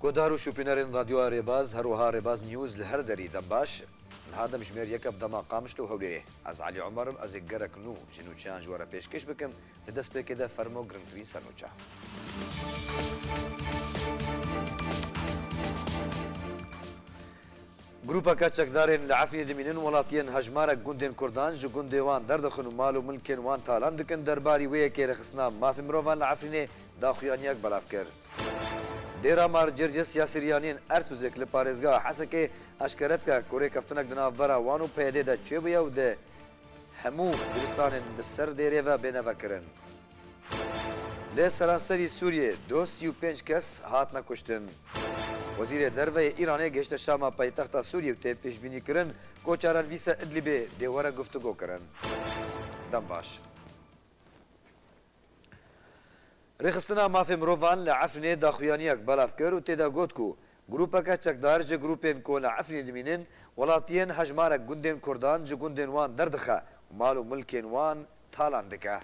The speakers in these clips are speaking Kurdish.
Guhdar û şûpînerên Radyoya Rêbaz, her wiha Rêbaz News li her derî dem baş. Niha dem ji mêr yek e bi dema Qamişlo û Hewlêrê. Ez Elî Omer im, ez ê gerek nû ji nûçeyan ji we re pêşkêş bikim. Di destpêkê de fermo girngtirîn sernûçe. Grûpeke çekdarên li Efrînê dimînin welatiyên hejmarek gundên Kurdan ji gundê wan derdixin û mal û milkên wan talan dikin derbarî wê yekê rêxistina mafên mirovan li Efrînê daxuyaniyek belav kir. Dêra Mar Circis ya Siryaniyên Ersûzêk li parêzgeha Hesekê eşkere dike ku rêkeftinek di navbera wan û PYD'ê de çêbûye û di hemû dibistanên bi ser dêrê ve bêne vekirin. Li seranserî Sûriyê du sî û pênc kes hatine kuştin. Wezîrê Derve yê Îranê gihişte Şama paytexta Sûriyê û tê pêşbînîkirin ku çarelvîsa Idlibê dê were guftugo kirin. Dem baş. Rêxistina Mafê Mirovan li Efrînê daxuyaniyek belav kir û tê de got ku grûpeke çekdar ji grûpên ku li Efrînê dimînin welatiyên hejmarek gundên Kurdan ji gundên wan derdixe û mal û milkên wan talan dike.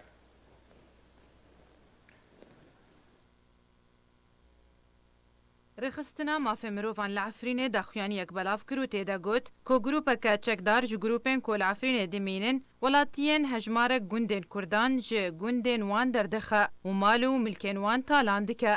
Rêxistina Mafê Mirovan li Efrînê daxuyaniyek belav kir û tê de got ku grûpeke çekdar ji grûpên ku li Efrînê dimînin welatiyên hejmarek gundên Kurdan ji gundên wan derdixe û mal û milkên wan talan dike.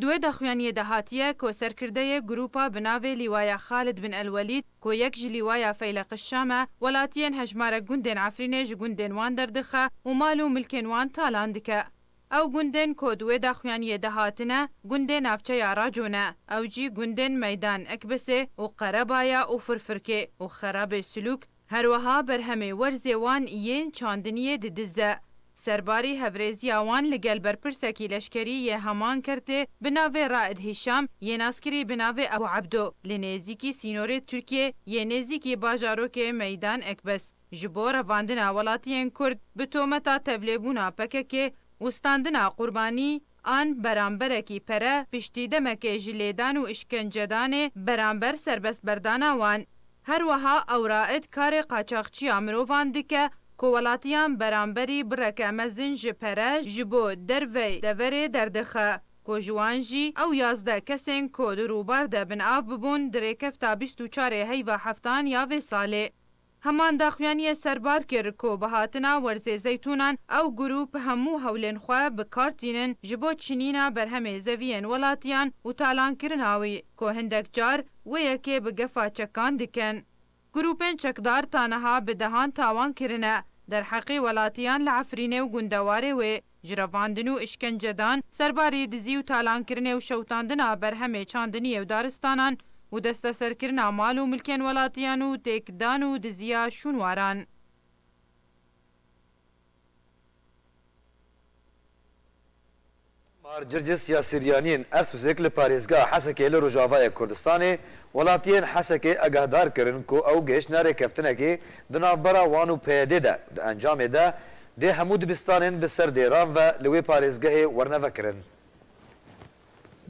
Di wê daxuyaniyê de hatiye ku serkirdeyê grûpa bi navê Lîwaya Xalid bin Elwelîd ku yek ji Lîwaya Feyleqi Şam e welatiyên hejmarek gundên Efrînê ji gundên wan derdixe û mal û milkên wan talan dike. Ew gundên ku di wê daxuyaniyê de hatine, gundê navçeya Raco ne, ew jî gundên Meydan Ekbesê û Qerebaya û Firfirkê û Xerabê Silûk, her weha berhemê werzê wan yên çandiniyê di diz e. Serbarî hevrêziya wan li gel berpirsekî leşkerî yê heman kertê bi navê Raed Hîşam yê naskirî bi navê Ebû Ebdo li nêzîkî sînorê Tirkiyê yê nêzîkî bajarokê Meydan Ekbes, ji bo revandina welatiyên Kurd bi tometa tevlêbûna PKK'ê û standina qurbanî an beramberekî pere piştî demekê ji lêdan û îşkencedanê beramber serbestberdana wan. Her weha Ewraid karê qaçaxçiya mirovan dike ku welatiyan beramberî bireke mezin ji pere ji bo dervey deverê derdixe ku ji wan jî ew yazdeh kesên ku di rûbar de bin av bibûn di rêkefta bîst û çarê heyva heftan ya vê salê Heman daxuyaniyê serbar kir ku bi hatina Werzê Zeytûnan ew grûp hemû hewlên xwe bi kar tînin ji bo çinîna berhemê zeviyên welatiyan û talankirina wî ku hindek car wê yekê bi gefa çekan dikin. Grûpên çekdar ta niha bi dehan tawan kirine derheqê welatiyan li Efrînê û gundewarê wê. Jirevandin û îşkencedan, serbarî dizî û talankirinê û şewitandina berhemê çandiniyê û daristanan û desteserkirina mal û milkên welatiyan û têkdan û diziya şûnwaran. Mar Circis ya Siryaniyên Ersûsek li parêzgeha Hesekê li Rojavayê Kurdistanê welatiyên Hesekê egehdar kirin ku ew gihiştine rêkeftinekê di navbera wan û PYD'ê de, di encamê de Dê hemû dibistanên bi ser dêran ve li wê parêzgehê wernevekirin.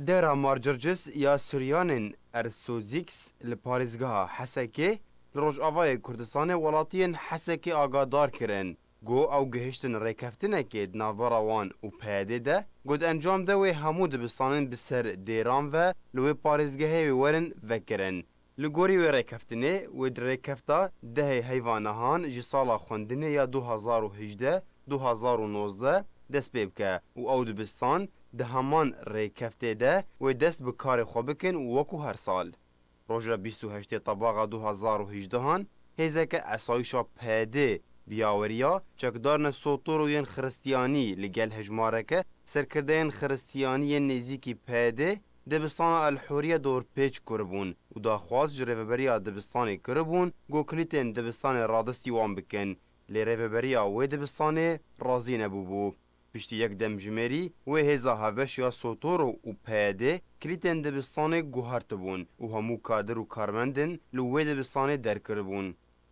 Dêra Marcircis ya Suryanên Ersozîx li parêzgeha Hesekê li Rojavayê Kurdistanê welatiyên Hesekê agadar kirin ku ew gihiştin rêkeftinekê di navbera wan û PYDê de ku di encam de wê hemû dibistanên bi ser dêran ve li wê parêzgehê wê werin vekirin. Li gorî wê rêkeftinê wê di rêkefta dehê heyva nihan ji sala xwendinê ya du hezar û hejdeh, du hezar û nozdeh dest pê bike û ew dibistan di heman rêkeftê de wê dest bi karê xwe bikin û wekû her sal roja bîst û heştê tebaxa du hezar û hejdeh an hêzeke esayîşa PD bi yaweriya çekdarine Sotoro yên Xiristiyanî li gel hejmareke serkirdeyên Xiristiyanî yên nêzîkî PD Dibistana El Hurriye dorpêç kiribûn û daxwaz ji Rêveberiya Dibistanê kiribûn ku kilîtên dibistanê radestî wan bikin, lê rêveberiya wê dibistanê razî nebûbû. Piştî yek demjimêrî wê hêza hevbeş ya Sotoro û PYD'ê kilîtên dibistanê guhertibûn û hemû kadir û karmendên li wê dibistanê derkiribûn.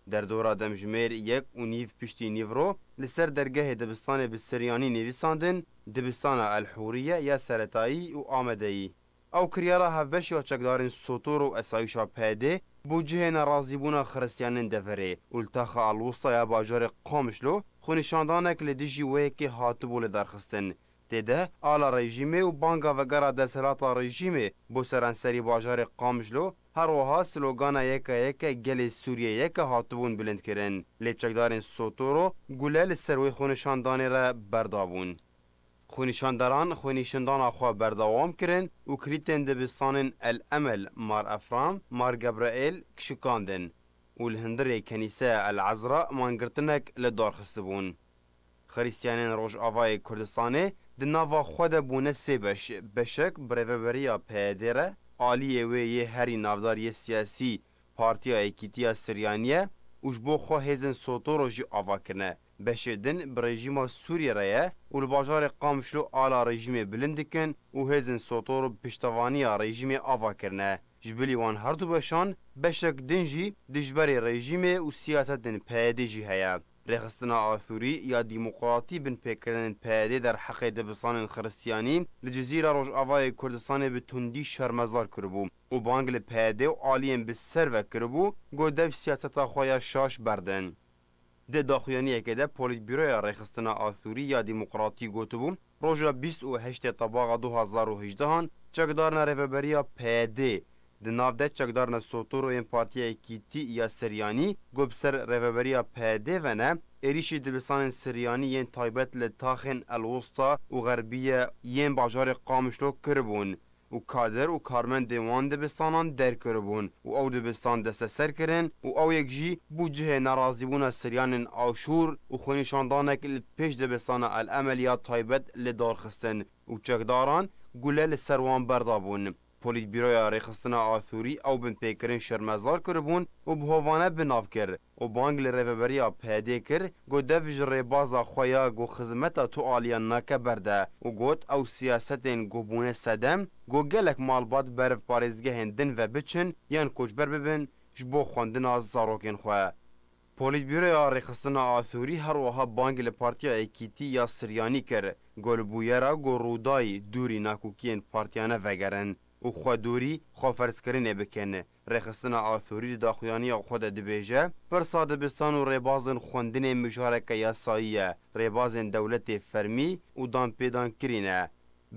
Derdora demjimêr yek û nîv piştî nîvro li ser dergehê dibistanê bi siryanî nivîsandin Dibistana El Hûriye ya Seretayî û Amedeyî. Ew kiryara hevbeş ya çekdarên Sotor û Esayîşa PYD'ê bo cihê nerazîbûna xiristiyanin deverê û li Taxa Alwusta ya bajarê Qamişlo xwenîşandanek li dijî wê yekê hatibû lidarxistin Tê de ala rejîmê û banga vegera desthilata rejîmê bo seranserî bajarê Qamjlo, her wiha slogana Yeka yeke gelê Sûriyê yeke hatibûn bilindkirin, lê çekdarên Sotoro gule li ser wê xwenişandanê re berdabûn. Xwenîşanderan xwenîşindana xwe berdewam kirin û kilîtên dibistanên El Emel, Mar Efram, Mar Gebreêl kişikandin û li hundirê kenîseya El Ezra mangirtinek li dar xistibûn. Xrîstiyanên Rojavayê Kurdistanê di nava xwe de bûne sê beş, beşek bi rêveberiya PYD'ê re, aliyê wê yê herî navdar yê siyasî Partiya Yekîtiya Suryanî ye û ji bo xwe hêzên Sotoro jî ava kirine. Beşê din bi rejîma Sûriyê re ye û li bajarê Qamişlo ala rejîmê bilind dikin û hêzên Sotoro bi piştevaniya rejîmê ava kirine. Ji bilî wan her du beşan, beşek din jî dijberê rejîmê û siyasetên PYD'ê jî heye. Rêxistina Asûrî ya Dîmoqratî bin pêkirinên PYDê derheqê dibistanên xiristiyanî li Cizîra Rojavayê Kurdistanê bi tundî şermezar kiribû û bang li PYD û aliyên bi ser ve kiribû ku dev siyaseta xwe ya şaş berdin. Di daxuyaniyekê de Polîtbîroya Rêxistina Asûrî ya Dîmoqratî gotibû, Roja bîst û heştê Tabaxa du hezar û hejdehan çekdarina Rêveberiya PYD'ê di nav de çekdarina sotoro yên Partiya Yekîtî ya Siryanî ku bi ser Rêveberiya PYD'ê ve ne, êrîşî dibistanên Siryanî yên taybet li taxên El Wusta û Xerbîye yên bajarê Qamişlo kiribûn. û kader û karmendên wan dibistanan derkiribûn û ew dibistan desteser kirin û ew yek jî bû cihê nerazîbûna siryanên aşûr û xwenîşandanek li pêş dibistana El Emel ya taybet li dar xistin û çekdaran gule li ser wan berdabûn. Polîtbîroya Rêxistina Aşûrî ew binpêkirin şermezar kiribûn û bi hovane bi nav kir. û bang li rêveberiya PYD kir ku dev ji rêbaza xwe ya ku xizmeta tu aliyan nake berde û got ew siyasetên ku bûne sedem ku gelek malbat beriv parêzgehên din ve biçin yan koçber bibin ji bo xwendina zarokên xwe. Polîtbûroya Rêxistina Athûrî her wiha bang li Partiya Yekîtî ya Siryanî kir ku li bûyera ku Rûdayî dûrî nakokiyên partiyane vegerin û xwedûrî xweferzkirinê bikin Rêxistina Athûrî di daxuyaniya xwe de dibêje, Pirsa dibistan û rêbazên xwendinê mijareke yasayî ye, rêbazên dewletê fermî û danpêdankirî ne.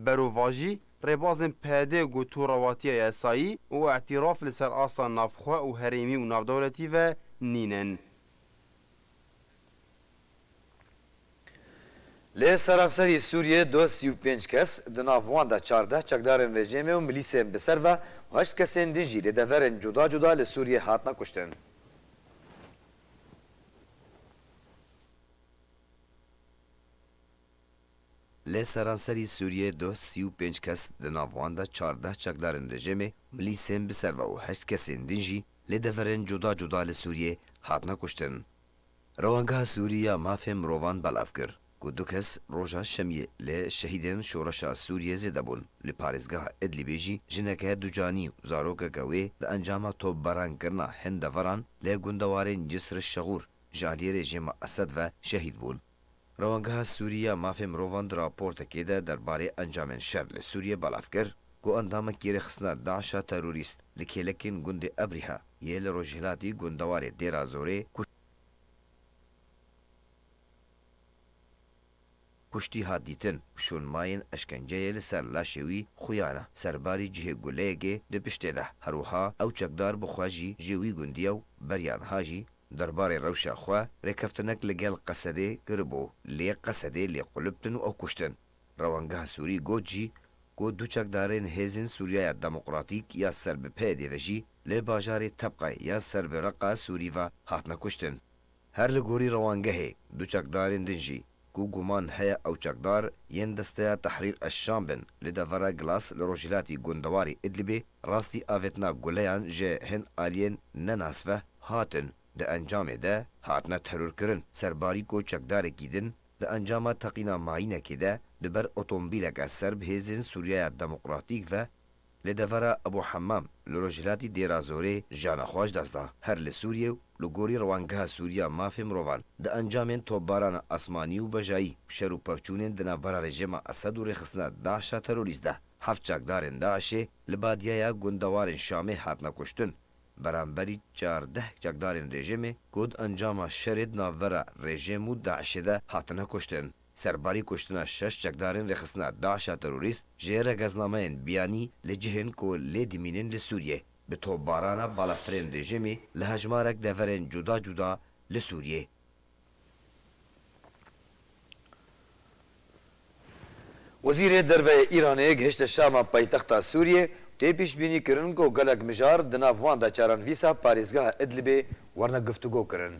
Berovajî, rêbazên PD ku tu rewatiya yasayî û îtîraf li ser asta navxwe û herêmî û navdewletî ve nînin. Li seranserî Sûriyê du sî û pênc kes, di nav wan de çardeh çekdarên rejîmê û milîsên bi ser ve û heşt kesên din jî li deverên cuda cuda li Sûriyê hatine kuştin. Li seranserî Sûriyê duh sî û pênc kes di nav wan de çardeh çekdarên rejêmê, milîsên bi serva û heşt kesên din jî li deverên cuda cuda li Sûriyê hatine kuştin. Rewangeha Sûrî ya Mafên Mirovan belav kir ku du kes roja şemiyê li Şehîdên Şoreşa Sûriyê zêde bûn, li parêzgeha Idlibê jî jineke ducanî û zarokeke wê di encama topbarankirina hin deveran li gundewarên Cisr-i-Şegûr ji aliyê rejêma Esed ve şehîd bûn. Rewangeha Sûrî ya Mafê Mirovan di raportekê de derbarê encamên şer li Sûriyê belav kir ku endamekî rêxistina DAIŞ'a terorîst li kêlekên gundê Ebrîha yê li rojhilatî gundewarê Dêra Zorê kuştî hat dîtin û şûnmayên eşkenceyê li ser laşê wî xuyana ser barî cihê guleyekê di piştê de. Her wiha ew çekdar bi xwe jî jê wî gundiya û beriya niha jî Derbarê rewşa xwe rêkeftinek li gel Qesedê kiribû lê Qesedê lê quliptin û ew kuştin. Rewangeha Sûrî got jî ku du çekdarên Hêzên Sûriyaya Demokratîk ya ser bi PYD'ê ve jî li bajarê Tebqe ya ser bi Reqa Sûrî ve hatine kuştin. Her li gorî rewangehê du çekdarên din jî ku guman heye ew çekdar yên desteya Tehrîr eş-Şam bin li devera Glas li rojhilatî gundewarê Idlibê, rastî avêtina guleyan ji hin aliyên ne nasveh hatin, di encamê de hatine terorkirin serbarî ku çekdarekî din di encama teqîna mayînekê de di ber otomobîleke serb hêzên Sûriyaya Demokratîk ve Li devera Ebû Hemam li rojhilatî Dêrazorê jiyana xwe ji dest da. Her li Sûriyê û li gorî Rewandgeha Sûrî ya Mafê Mirovan di encamên topbarana esmanî û bejayî û şer û pevçûnên di navbera rejêma Esed û rêxistina DAIŞ'a terorîst de heft çakdarên DAIŞ'ê li Badîyaya Gundewarên Şamê hatine kuştin. Beramberî çardeh çakdarên rejêmê ku di encama şerê di navbera rejêm û DAIŞ'ê de hatine kuştin, Serbarî kuştina şeş çekdarên rêxistina DAIŞ'a terorîst ji rêgeznameyên biyanî li cihên ku lê dimînin li Sûriyê, bi topbarana balafirên rejîmê li hejmarek deverên cuda cuda li Sûriyê. Wezîrê Derve yê Îranê gihişte Şama paytexta Sûriyê û tê pîşbînî kirin ku gelek mijar di nav wan de çaran vîsa parêzgeha Idlibê warine guftûgo kirin.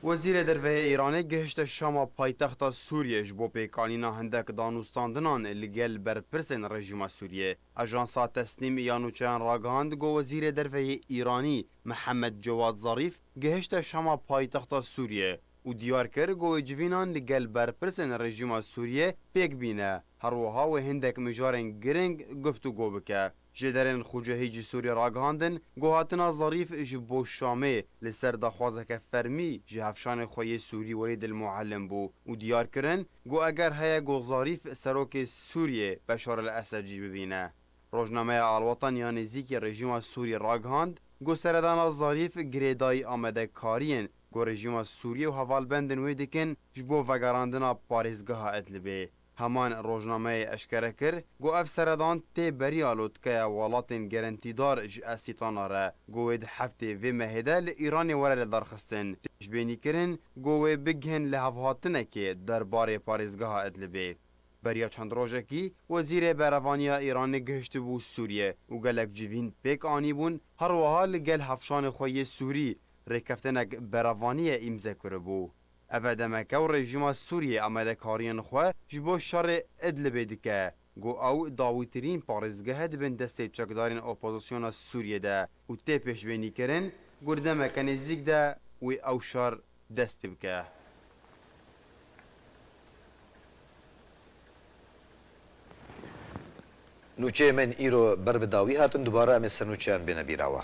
Wezîrê Derve yê Îranê gihişte Şama paytexta Sûriyê ji bo pêkanîna hindek danûstandinan li gel berpirsên rejîma Sûriyê. Ajansa Tesnim ya nûçeyan ragihand ku Wezîrê Derve yê Îranî Mihemed Cewad Zarîf gihişte Şama paytexta Sûriyê û diyar kir ku wê civînan li gel berpirsên rejîma Sûriyê pêk bîne, herwiha wê hindek mijarên giring guftûgo bike. Ji derên Xûcehê Cîsorê ragihandin ku hatina Zarîf ji bo Şamê li ser daxwazeke fermî ji hevşanê xwe yê Sûrî Welîd El Muallim bû û diyar kirin ku eger heye ku Zarîf serokê Sûriyê Beşar El Esed jî bibîne. Rojnameya Alwatan ya nêzîkî rejîma Sûrî ragihand ku seredana Zarîf girêdayî amadekariyên ku rejîma Sûriyê û hevalbendên wê dikin ji bo vegerandina parêzgeha Idlibê. Heman rojnameyê eşkere kir ku ev seredan tê beriya lotkeya welatên gerentîdar ji Esîtana re ku wê di heftê vê mehê de li Îranê were lidarxistin, pêşbênî kirin ku wê bigihin li hevhatinekê der barê parêzgeha Idlibê. Beriya çend rojekî Wezîrê Berevaniya Îranê gihiştibû Sûriyê û gelek civîn pêk anîbûn, herwiha li gel hevşanê xwe yê Sûrî rêkeftinek berevaniye îmze kiribû. Ev e demeke û rejîma Sûriyê amelekariyên xwe ji bo şerê Idlibê dike ku ew dawîtirîn parêzgehe dibin destê çekdarên opozisyona Sûriyê de û tê pêşbênîkirin ku di demeke nêzîk de wê ew şer dest pê bike. Nûçeyên me yên îro ber bi dawî hatin, dubare em ê sernûçeyan bêne bîra we.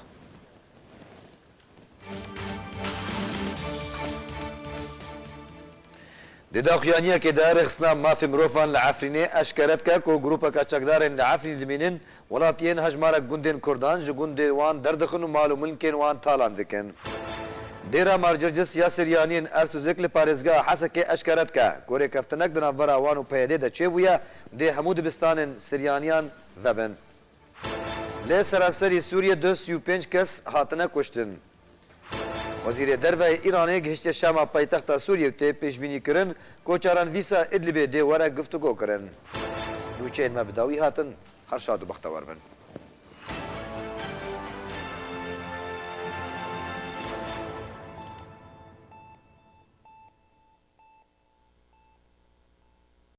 Di daxuyaniyekê de rêxistina mafê mirovan li Efrînê eşkere dike ku grûpeke çekdarên li Efrînê dimînin Welatiyên hejmarek gundên Kurdan ji gundên wan derdixin û mal û milkên wan talan dikin. Dêra Marcircis ya Siryaniyên Ersûzek li parêzgeha Hesekê eşkere dike, ku rêkeftinek di navbera wan û PYD'ê de çêbûye û dê hemû dibistanên Siryaniyan vebin. Li seranserî Sûriyê duh sî û pênc kes hatine kuştin. Wezîrê Derve yê Îranê gihiştiye Şama paytexta Sûriyê û tê pêşbînî kirin ku caran Vîsa Îdlibê dê were guftûgo kirin. Nûçeyên me bi dawî hatin. Her şad û bextewar bin.